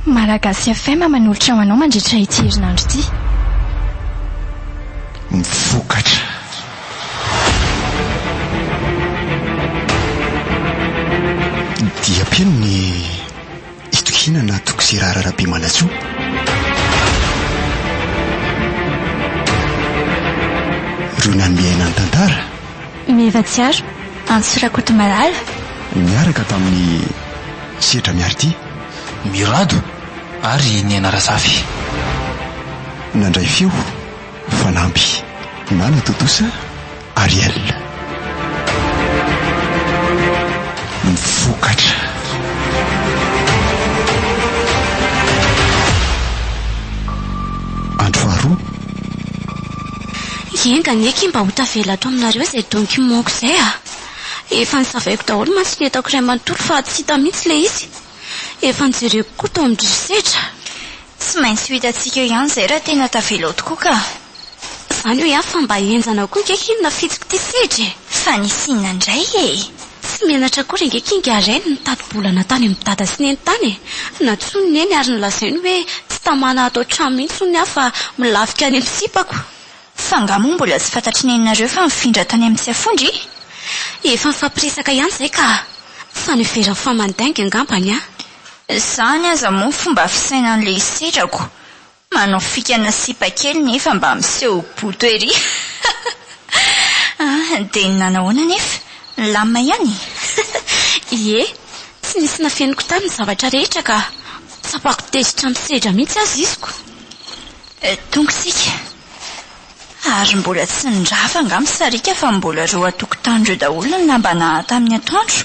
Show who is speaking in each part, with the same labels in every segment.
Speaker 1: Malagasy FM manolotra ho anao mandritra ity herinandro ity.
Speaker 2: Ny vokatra. Dia mpino ny itokiana na Tokisirara Rabemanantsoa. Ireo nanome ahy nanotantara. Meva Tsiaro,
Speaker 1: Antso Rakotomalala. Niaraka
Speaker 2: tamin'i Setra Miaritia. Mirado
Speaker 3: ary Niaina Razafy.
Speaker 2: Nandray feo fanamby. Nana Totosa Ariel. Ny vokatra. Andro faharoa.
Speaker 4: Enga anie akia mba ho tavela ato aminareo izay donky monko izay a! Efa nosavaiko daholo mantsy ny entako iray manontolo fa tsy hita mihitsy ilay izy. Efa nojereko koa tao amin'ny risetra. Tsy maintsy
Speaker 1: ho hitantsika eo ihany izay raha tena tavela ao tokoa ka! Izany hoy
Speaker 4: aho fa mba henjana koa ange akia ny nafitsiko ity sedra e! Fa nisy inona
Speaker 1: indray e? Tsy menatra
Speaker 4: akory ange kinga Reny nitati-bolana tany amin'i Dada sy Neny tany e! Nantsoiny Neny ary nolazainy hoe tsy tamana ato an-trano mihitsy hono aho fa milafika any amin'ny sipako. F'angaha moa
Speaker 1: mbola tsy fantatr'i Neny nareo fa nifindra tany amin'ny Tsiafondra i? Efa
Speaker 4: nifampiresaka ihany izay ka! Fa niveran'ny famandainga angambany an! Izany
Speaker 1: aza moa fomba fisainan'ilay sedrako Manao fikana sipa kely nefa mba miseho boto ery ah! Dia nanahoana anefa? Nilamina ihany e! Ie,
Speaker 4: tsy nisy nafeniko tany ny zavatra rehetra ka tsapako tezitra amin'ny sedra mihitsy aza iziko.
Speaker 1: Tonga isika. Ary mbola tsy nirava angaha misariaka fa mbola ireo an-tokontany ireo daholo ny lamba naha tamin'ny atoandro.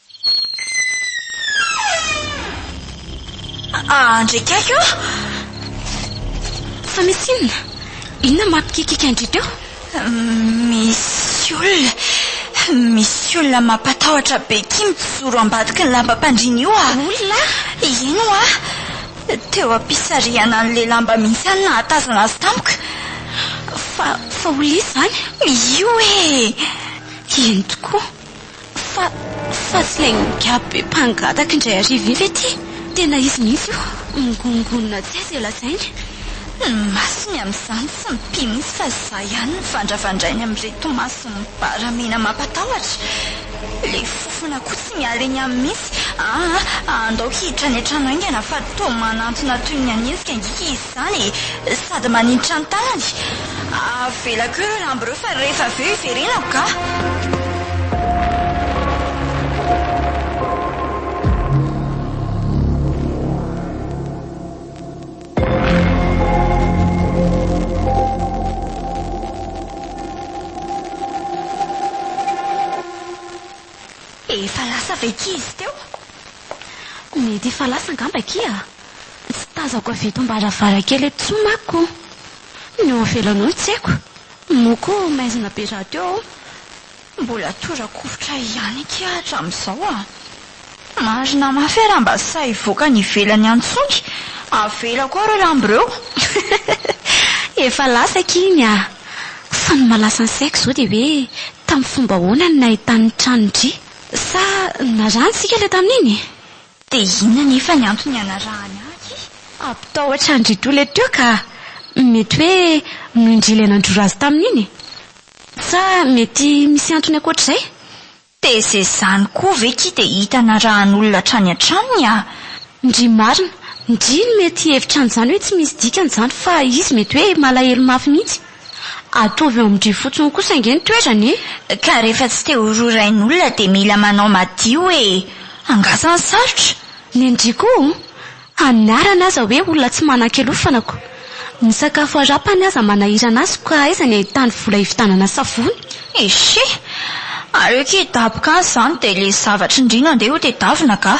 Speaker 1: Andry akaiky ô!
Speaker 4: Fa misy inona? Inona mampikikika an-dry teo? Misy olona,
Speaker 1: misy olona mampatahotra be akia mijoro ambadiky ny lambam-pandriana io ah! Olona?
Speaker 4: Eny hoa!
Speaker 1: Teo am-pisarihana an'ilay lamba mihitsy aho no nahatazana azy tamiko. Fa,
Speaker 4: fa olona iza izany? Io e!
Speaker 1: Eny
Speaker 4: tokoa. Fa, fa tsy ilay migiaby be mpangataka indray hariva iny ve ity? Tena izy mihitsy io, mingonongonona tsy hay izay lazainy. Ny masony
Speaker 1: amin'izany tsy mipino mihitsy fa izaho ihany no vandravandrainy amin'ireto maso mibara mena mampatahotra. Ilay fofona koa tsy miala eny aminy mihitsy. Aa, andaoko hiditra any an-trano haingana fa toa manantona toy ny hanenjika angiaka izy. izany e! Sady maninitra ny tanany. Avela koa ireo lamba ireo fa rehefa avy eo hiverenako kah! Efa lasa ve akia izy teo?
Speaker 4: Mety efa lasa angamba akia. Tsy tazako avy eto am-baravarankely eto intsony manko. Ny eo ivelany eo no tsy haiko. Moa koa maizina be rahateo ao? Mbola
Speaker 1: tora-kovitra ihany akia hatramin'izao a! Marina mafy e raha mba sahy hivoaka any ivelany any tsoky, avela koa ireo lambo ireo.
Speaker 4: Efa lasa akia iny a! Fa ny mahalasa ny saiko izao dia hoe tamin'ny fomba ahoana no nahitan'ny tranon-dry? Sa narantsika ilay tamin'iny? Dia inona
Speaker 1: anefa ny antony ianarahany ahy? Hampitahotra
Speaker 4: an-dry Tole teo ka! Mety hoe noho indry ilay nandrora azy tamin'iny e! Sa mety misy antony ankoatr'izay? Dia izay
Speaker 1: izany koa ve ki dia hita narahan'olona hatrany hatrany a! Ndry marina,
Speaker 4: ndry ny mety hihevitra an'izany hoe tsy misy dikany izany fa izy mety hoe malahelo mafy mihitsy. Ataovy eo amin dry fotsiny kosa ange ny toerany e! Ka rehefa tsy
Speaker 1: te ho rorain'olona dia mila manao madio e! Angaha ny sarotra? Ny an-dry koa
Speaker 4: o! Aniarany aza hoe olona tsy manan-kialofana ko! Ny sakafo arapany aza manahirana azy ko aiza ny ahitany vola hividanana savony? Echee!
Speaker 1: Aleo k'hidaboka aza izany dia ilay zavatry ndry no andeha hotedavina kah!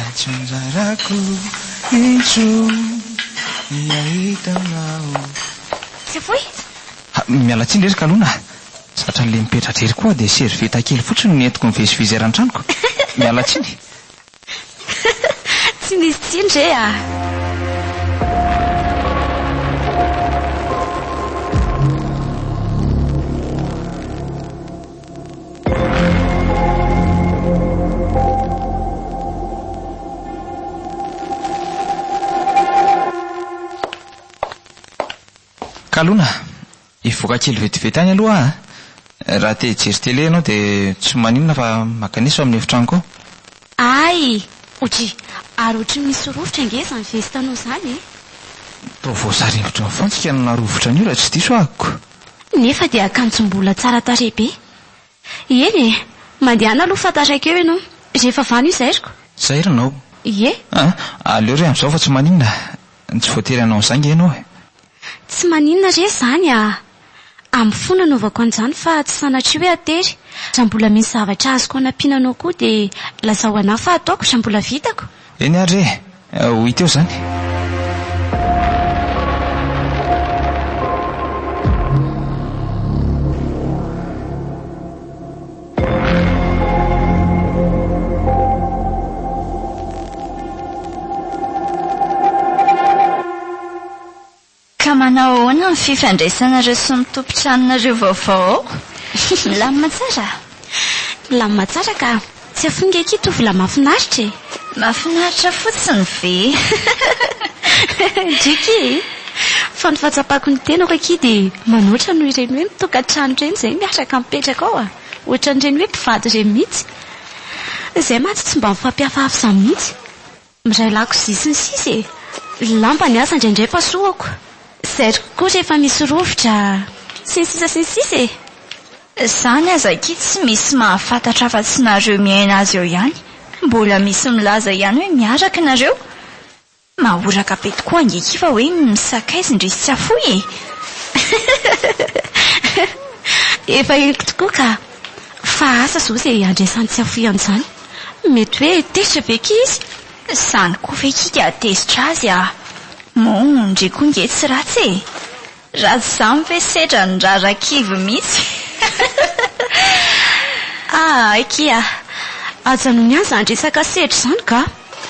Speaker 3: Antsinjarako intsony ny hahita anao. Tsy foy?
Speaker 4: Ha, miala
Speaker 3: tsiny rery kalona a! Zatra le mipetra-dry ery koa dia servieta kely fotsiny no nentiko nivezivezy eran'ny tranoko. Miala tsiny.
Speaker 4: Tsy misy tsiny re a!
Speaker 3: Kalona, hivoaka kely vetivety any aloha aho a! Raha te hijery tele ianao dia tsy maninona fa makanesa ao amin'ny efitranoko ao. Ay!
Speaker 4: Oji! Ary ohatry ny misy rovitra ange izany vestanao izany e! Toa
Speaker 3: voasary hevitra mifantsika no narovitra an'io raha tsy diso ahiko. Nefa dia
Speaker 4: akanjo mbola tsara tarehy be. Eny e! Mandehana aloha fa taraiky eo ianao. Rehefa vano io zairiko. Zairina ao?
Speaker 3: Ie. A!
Speaker 4: Aleo re
Speaker 3: amin'izao fa tsy maninona. Tsy voatery hanao an'izany ange ianao e. Tsy maninona
Speaker 4: re izany a! Amiko fo nanaovako an'izany fa tsy sanatria hoe hatery. Raha mbola misy zavatra azoko hanampiana anao koa dia lazao anah fa ataoko raha mbola vitako. Eny ary re!
Speaker 3: hoy teo izany.
Speaker 1: Ka manao ahoana ny fifandraisanareo sy ny tompon-tranonareo vaovao ao? Milamina tsara? Milamina
Speaker 4: tsara ka. Tsy afoinga akia tovolahy mahafinaritra e! Mahafinaritra
Speaker 1: fotsiny ve?
Speaker 4: Driky e! Fa ny fahatsapako ny tenako akia dia manoatra noho ireny hoe mitokantrano ireny izay miaraka mipetraka ao a! Ohatran'ireny hoe mpivady ireny mihitsy. Izay mantsy tsy mba mifampihafahafza mihitsy. Miray lakozia sy ny sisa e! Lamba ny asa indraindray pasohako, zay koa rehefa misy rovitra sy ny sisa sy ny sisa e! Zany
Speaker 1: aza akia tsy misy mahafantatra afa tsy nareo miaina azy eo ihany, mbola misy milaza ihany hoe miaraka nareo, mahoraka be tokoa ange akia fa hoe misakaiza indrisy tsy afoy e!
Speaker 4: Efa henoko tokoa ka! Fa asa zao izay iandrasany tsy afoy an'izany. Mety hoe tezitra ve kay izy? Izany koa ve
Speaker 1: kika hatezitra azy ah? Moa ndry koa nge tsy ratsy e! Raha tsy izany ve sedra ny raharaha kivy mihitsy?
Speaker 4: Ah aky ah! Ajanony aza ny resaka sedra izany ka!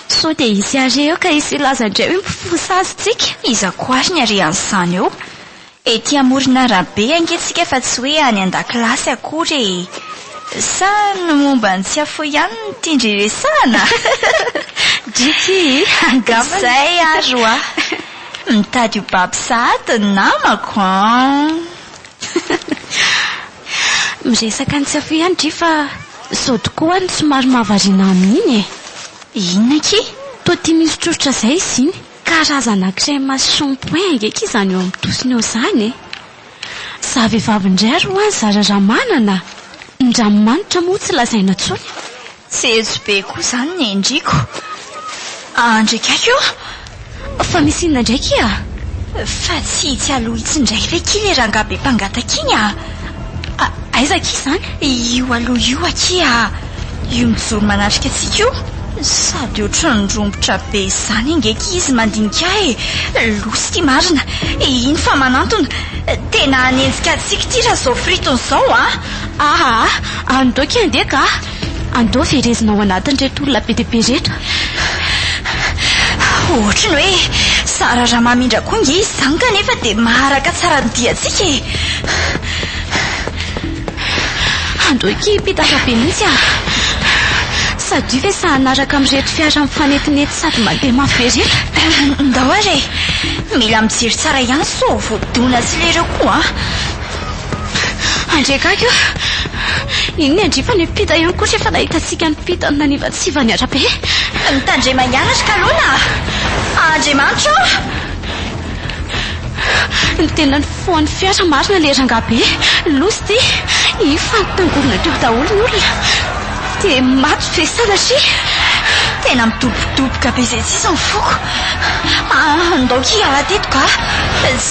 Speaker 4: Sao dia hisy hare eo ka hisy hilaza indray hoe mifosa azy tsika? Iza koa ary ny
Speaker 1: harehan'izany eo? Ety amoron'arabe ange tsika fa tsy hoe any an-dakilasy akory e! Sa ny momba ny tsiafoy ihany no tian-dry resahana?
Speaker 4: Driky, angambany.
Speaker 1: Izay ary hoa! Mitady ho babo sahady ny namako an!
Speaker 4: Miresaka ny tsiafoy ihany dry fa sao tokoa ny somary mahavariana amin'iny e! Inona akia?
Speaker 1: Toa tia misotrosotra
Speaker 4: izay izy iny. Karazana crème shampoing ngeky izany eo amin'ny tosiny eo izany e! Za vehivavy indray ary hoa zara raha manana a! Ny ranomanitra moa tsy lazaina intsony a! Jejo be
Speaker 1: koa izany ny endriko. Andry kaiky o! Fa
Speaker 4: misy inona indray kia? Fa
Speaker 1: tsy hitsy aloha hitsy indray ve kia ilay rangahy be mpangataka iny a! Aiza
Speaker 4: akia izany? Io aloha io
Speaker 1: akia, io mijoro manatrika antsika io. Sady ohatran'ny rombotra be izany ange akia izy mandinika ahy e! Loza ity marina, iny fa manantona. Tena hanenjika antsika ity raha izao fritony izao an! Ahaa, andoha akia
Speaker 4: andeha kah! Andao verezina ao anatin'ireto olona be dia be ireto.
Speaker 1: Ohatry ny hoe zara raha mamindra koa ange izy izany kanefa dia maharaka tsara ny diantsika e!
Speaker 4: Andao hikihim-pitaka be mihitsy aho. Sadio ve sa hanaraka amin'ireto fiara mifanetinety sady mandeha mafy be ireto? Ndao ary e!
Speaker 1: Mila mijery tsara ihany sao vao dona sy lereo koa an! Andry
Speaker 4: akaiky o! Nino ny andrifa ny mpita ihany koa rehefa nahita antsika nipita ny nanivatsiva ny arabe. Mitandrema
Speaker 1: ihany ry Kalona a! Andriamanitra o!
Speaker 4: Ny tena nifohan'ny fiara marina ilay rangahy be loza ity. Iny fa nitangovona teo daholo ny olona dia maty ve sanatria? Tena
Speaker 1: midobodoboka be izay tsy izy ny foko. Andaoky hiala teto kah!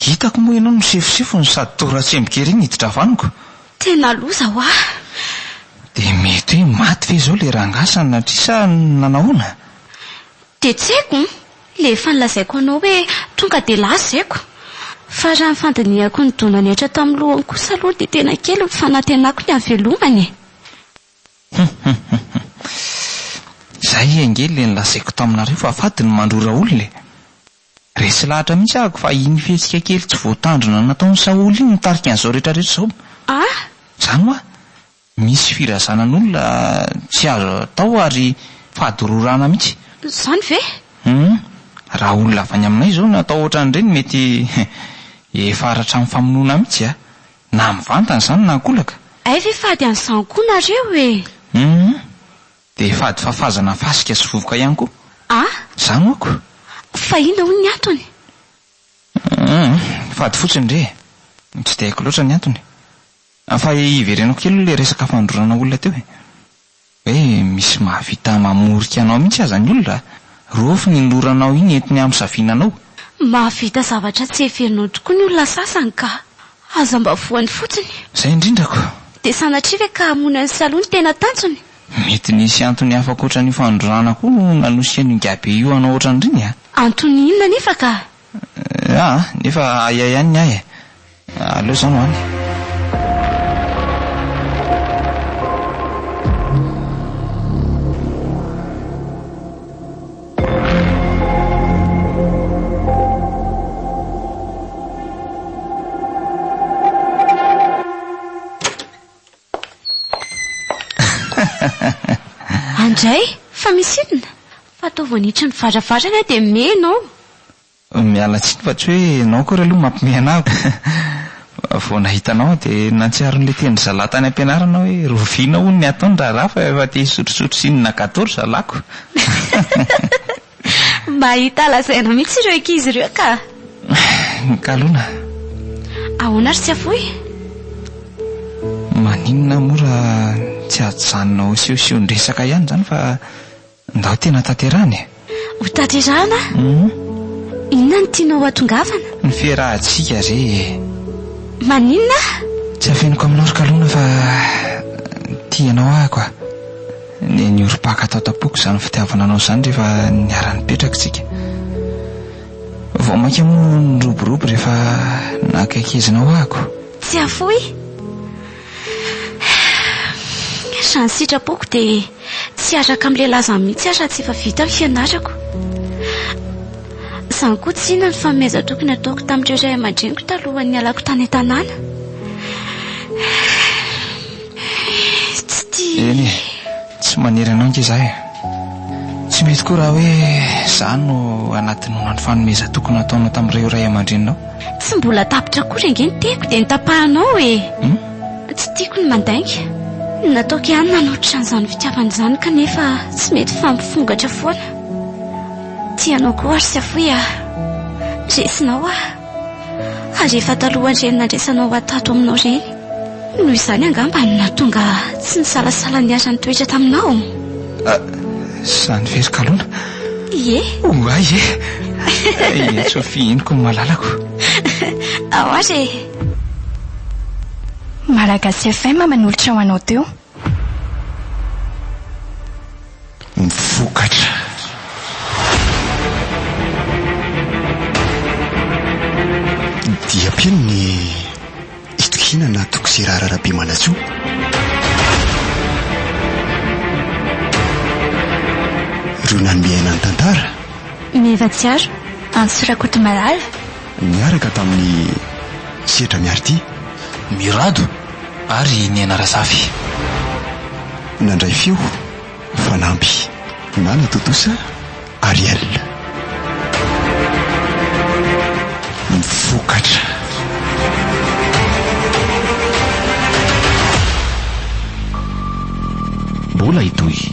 Speaker 3: Hitako moa ianao misefosefo no sady toa ratsemboka ery ny hiditra avy amiko. Tena loza
Speaker 4: hoa. Dia
Speaker 3: mety hoe maty ve izao ilay rangahy sanatria sa nanahoana?
Speaker 4: Dia tsy haiko an! Ilay efa nolazaiko anao hoe tonga dia lazaiko. Fa raha ny fandinihako ny dona niaitra tao amin'ny lohany kosa aloha dia tena kely ny fanantenako ny hahavelomany e! Hum hum hum hum.
Speaker 3: Izay ange ilay nolazaiko taminareo fa fady ny mandrora olona e! Resy lahatra mihitsy ahako fa iny fihetsika kely tsy voatandrina nataon'i Saholy iny nitarika an'izao retraretra izao. Ah!
Speaker 4: Zany hoa,
Speaker 3: misy firazanan'olona tsy azo atao ary fahadororana mihitsy. Zany ve?
Speaker 4: Hum,
Speaker 3: raha olona avy any aminay izao no atao ohatran'ireny mety efa haratran'ny famonoana mihitsy a! Na mivantana izany na ankolaka. Hay ve fady
Speaker 4: an'izany koa nareo e! Hum,
Speaker 3: Dia fady fafazana fasika sy vovoka ihany koa ah! Za
Speaker 4: moko.
Speaker 3: Fa inona
Speaker 4: hono ny antony? Uhm,
Speaker 3: fady fotsiny re e! Tsy dia haiko loatra ny antony. Fa iverenako kely aloha ilay resaka fandrorana olona teo e! Hoe misy mahavita mamorika anao mihitsy aza ny olona a! Rofy ny loranao iny entiny hamisavina anao. Mahavita
Speaker 4: zavatra tsy heverinao tokoa ny olona sasany ka! Aza mba voany fotsiny. Izay indrindra ko!
Speaker 3: Dia sanatria ve
Speaker 4: ka hamono an'i Salo no tena tanjony? Mety nisy
Speaker 3: antony hafa ankoatra an'io fandrorana koa no nanosian'io ingahibe io hanao ohatran'ireny a! Antony inona anefa
Speaker 4: ka? Aa!
Speaker 3: Nefa ahiahy ihany ny ahy e! Aleo izaho no any.
Speaker 4: Andray, fa misy inona? Fa toa vao niditra ny varavarana aho dia mey ianao. Miala
Speaker 3: tsiny fa tsy hoe ianao akory aloha mampimehy anah ko. Vao nahita anao aho dia nahatsiaro an'ilay tenin'ny zalahy tany am-pianarana hoe rovina hono ny ataony raharaha fa efa te hisotrosotro sinonagadô ry zalahy ko.
Speaker 4: Mahita lazaina mihitsy ireo ankizy ireo ka! Mikalona. Ahoana ry Tsiafohy?
Speaker 3: Maninona moa raha tsy ajanona ho sehoseho-ndresaka ihany izany fa ndao tena tanterahina e! Ho tanterahina?
Speaker 4: Inona no tianao hatongavana? Ny fiarahantsika
Speaker 3: re e! Maninona?
Speaker 4: Tsy
Speaker 3: afeniko aminao ry Kalona fa tia anao aho ko a! Niorim-paka tao tampoko izany fitiavana anao izany rehefa niara-nipetraka isika. Vao mainka moa no niroborobo rehefa nakaikizinao ahy ko. Tsy afoy!
Speaker 4: Raha ny sitrapoko dia tsy hiaraka amin'ilay lazany mihitsy aho raha tsy efa vita ny fianarako. Izany koa tsy inona ny fanomezan-toky nataoko tamin'ireo ray aman-dreniko talohan'ny nialako tany an-tanàna. Tsy tia. Eny e,
Speaker 3: tsy maniry anao ange izaho e. Tsy mety koa raha hoe izaho no anaty noana ny fanomezan-toky nataonao tamin'ireo ray aman-dreninao. Tsy mbola tapitra
Speaker 4: akory ange ny tehiko dia notapahanao e. Hum? Tsy tiako ny mandainga. Nataoko ihany nanolotra an'izany fitiavana izany kanefa tsy mety fa mifongatra foana. Tia anao koa ary safoy aho. Resinao aho. ary efa talohan'ireny nandraisanao ho ahy tato aminao ireny. Noho izany angamba no nahatonga tsy nisalasala niara-nitoetra taminao. Ah, izany
Speaker 3: very kalona. Ie?
Speaker 4: Oh, ah, ie.
Speaker 3: Ie, Sophie, henoko ny malalako.
Speaker 4: Ahoàry e?
Speaker 1: Malagasy FM manolotra ho anao teo.
Speaker 2: ny vokatra. Dia mpino ny itokiana na Toksirara Rabemanantsoa. Ireo nanome aina ny tantara. Meva Tsiaro,
Speaker 1: Antso Rakotomalala. niaraka
Speaker 2: tamin'i Setra Miaritia. Mirado
Speaker 3: ary i Nena Razafy.
Speaker 2: Nandray feo fanampy. Nana Totosa Ariel. Vokatra.
Speaker 5: Mbola hitohy.